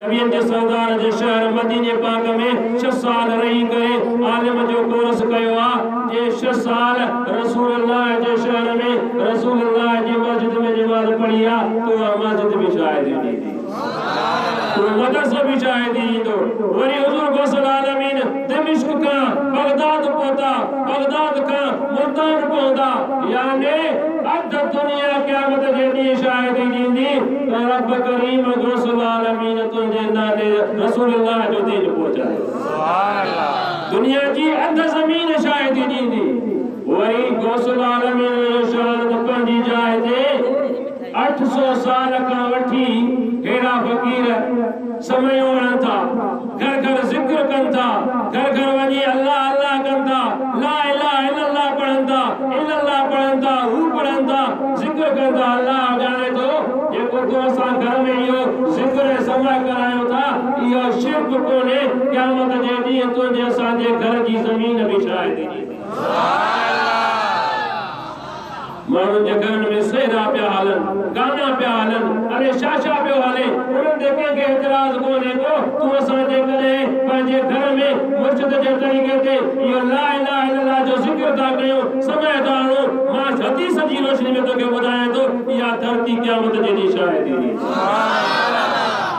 ويندي سردار جي شهر مديني پاڪ ۾ ڇهه سال رهي ڪري عالم جو ڪورس ڪيو آ جي ڇهه سال رسول الله جي شهر ۾ رسول الله جي مسجد ۾ نماز پڙهي آ تو اها مسجد به شاهدي ڏيندي اهو مدرسو به شاهدي ڏيندو وري حضور غوث العالمين دمشق کان بغداد پهتا بغداد کان ملتان پهندا يعني اڌ دنيا قيامت جي ڏينهن شاهدي ڏيندي اي رب ڪريم غوث العالمين تنهنجي نالي رسول الله جو دين پهچايو سبحان الله دنيا جي اڌ زمين شاهدي ڏيندي اهي ئي غوث العالمين جو شان ته پنهنجي جاء تي اٺ سؤ سال کان وٺي ههڙا فقير سمهيون رهن ٿا، گهر گهر ذڪر ڪن ٿا، گهر گهر وڃي الله الله ڪن ٿا، لا اله الا الله پڙهن ٿا، الا الله پڙهن ٿا، هو پڙهن ٿا، ذڪر ڪن ٿا، الله ڄاڻي ٿو جيڪو تو اسان گهر ۾ اهو ذڪر ۽ سمع ڪرايو ٿا اهو شرڪ ڪونهي، قيامت جي ڏينهن تنهنجي اسان جي گهر جي زمين به شاهدي ڏيندي. ماڻهن جي گهرن ۾ سهرا پيا هلن، گانا پيا هلن، اري شاشا پيو هلي، انهن تي ڪنهن کي اعتراض ڪونهي ڪو، تون اسان جيڪڏهن پنهنجي گهر ۾ مرشد جي طريقي تي اهو لا اله الا الله جو ذڪر ٿا ڪيون، سماء ٿا هڻون، مان حديث جي روشني ۾ توکي ٻڌايان ٿو، اها ڌرتي قيامت جي ڏينهن شاهدي ڏيندي.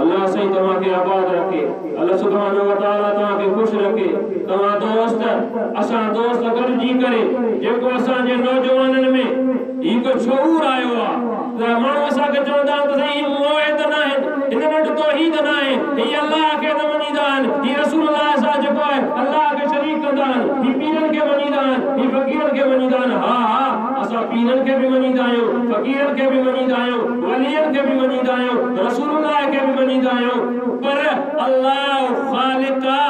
الله سائين توهان کي آباد رکي. الله سبحانه و تعالٰي توهان کي خوش رکي. توهان دوست اسان دوست گڏجي ڪري جيڪو اسان جي نوجوانن ۾ هڪ شعور آيو آ ته ماڻهو اسان کي چوندا آهن ته سائين هي موهي ته ناهن هن وٽ توحيد ناهي هي الله کي نه مڃيندا آهن هي رسول الله سان جيڪو آهي الله کي شريڪ ڪندا آهن هي پيرن کي مڃيندا آهن هي فقيرن کي مڃيندا آهن ها ها اسان پيرن کي به مڃيندا آهيون فقيرن کي به مڃيندا آهيون. ولين کي به مڃيندا آهيون، رسول الله کي به مڃيندا آهيون، پر الله خالق آ،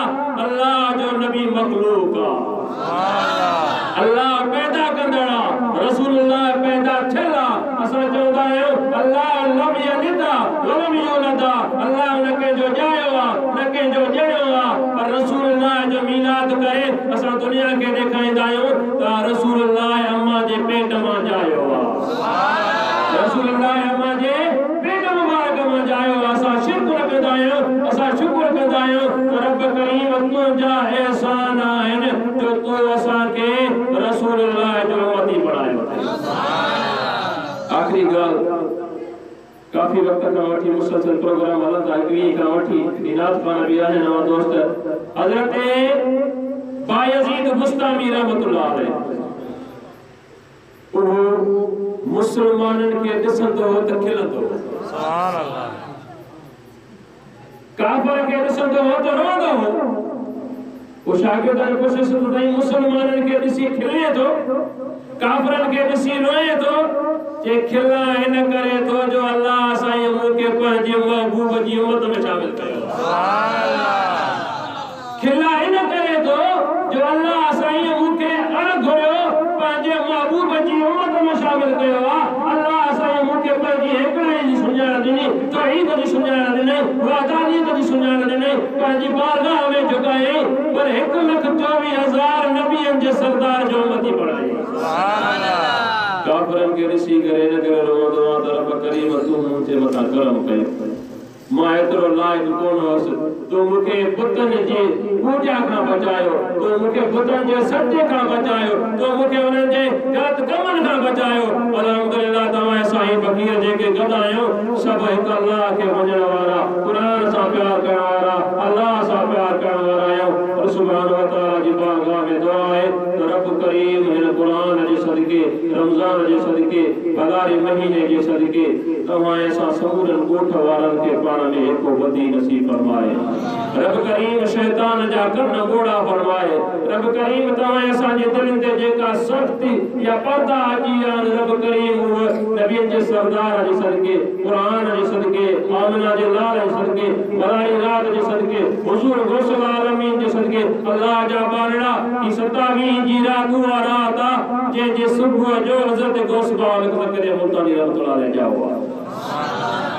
الله جو نبي مخلوق آ. الله پيدا ڪندڙ آ، رسول الله پيدا ٿيل آ، اسان چوندا آهيون الله لم يلد آ ولم يولد آ، الله نه ڪنهن جو ڄايو آ، نه ڪنهن جو ڄڻيو آ، پر رسول الله جو ميلاد ڪري اسان دنيا کي ڏيکاريندا آهيون ته رسول الله امان جي پيٽ مان ڄايو آ. رسول الله اما جي پيٽ مبارڪ مان ڄايو اسان شڪر ڪندا آهيون اسان شڪر ڪندا آهيون ته رب ڪريم تنهنجا احسان آهن جو تو اسان کي رسول الله جو امتي بڻايو اٿئي. آخري ڳالهه ڪافي وقت کان وٺي مسلسل پروگرام هلن ٿا هڪ ويهين کان وٺي هي نعت خوان به آهن اوهان دوست حضرت بايزيد بسطامي رحمة الله عليه اهو مسلمانن کي ڏسندو هو ته کلندو هو. ڪافر کي ڏسندو هو ته روئندو هو. ڪو شاگردن پڇيس ته تائين مسلمانن کي ڏسي کلين ٿو، ڪافرن کي ڏسي روئين ٿو؟ چي کلان ان ڪري ٿو جو الله سائين مون کي پنهنجي محبوب جي امت ۾ شامل ڪيو. کلا ان ڪري ٿو جو الله سائينء مون کي اڻ گهريو پنهنجي محبوب جي امت ۾ شامل ڪيو آ، الله سائينء مون کي پنهنجي هيڪڙائيء جي سڃاڻ ڏني، توحيد جي سڃاڻ ڏنائين، وحدانيت جي سڃاڻ ڏنائين، پنهنجي بارگاهه ۾ جهڪايائين، پر هڪ لک چوويهه هزار نبين جي سردار جو امتي بڻايائين. ڪافرن کي ڏسي ڪري ان ڪري روئندو آ ته رب ڪريم تون مون جي مٿان ڪرم ڪيو. مان ايترو لائق ڪونه هوس. تو مون کي بتن جي پوڄا کان بچايو. تو مون کي بتن جي سجدي کان بچايو. تو مون کي انهن جي غلط ڪمن کان بچايو. الحمدلله توهان ۽ سائين فقير جيڪي گڏ آهيون، سڀ هڪ الله کي مڃڻ وارا، قرآن سان پيار ڪرڻ وارا، الله سان پيار ڪرڻ وارا آهيون. رب سبحانه وتعاليٰ جي بارگاهه ۾ دعا آهي ته رب ڪريم هن قرآن جي صدقي، رمضان جي صدقي، ڀلاري مهيني جي صدقي، توهان ۽ اسان سمورن ڳوٺ وارن کي پاڻ ۾ هيڪو ٻڌي نصيب فرمائي. رب ڪريم شيطان جا ڪن ڳوڙها فرمائي. رب ڪريم توهان ۽ اسان جي دلين تي جيڪا سختي يا پردا اچي ويا آهن رب ڪريم اهي نبين جي سردار جي صدقي، قرآن جي صدقي، آمنه جي لال جي صدقي، ملائي رات جي صدقي، حضور غوث العالمين جي صدقي الله جا ٻارڙا! هي ستاويهين جي رات اها رات آ جنهن جي صبح جو حضرت غوث پاڪ زڪريا ملتاني رحمة الله عليه ڄائو آ.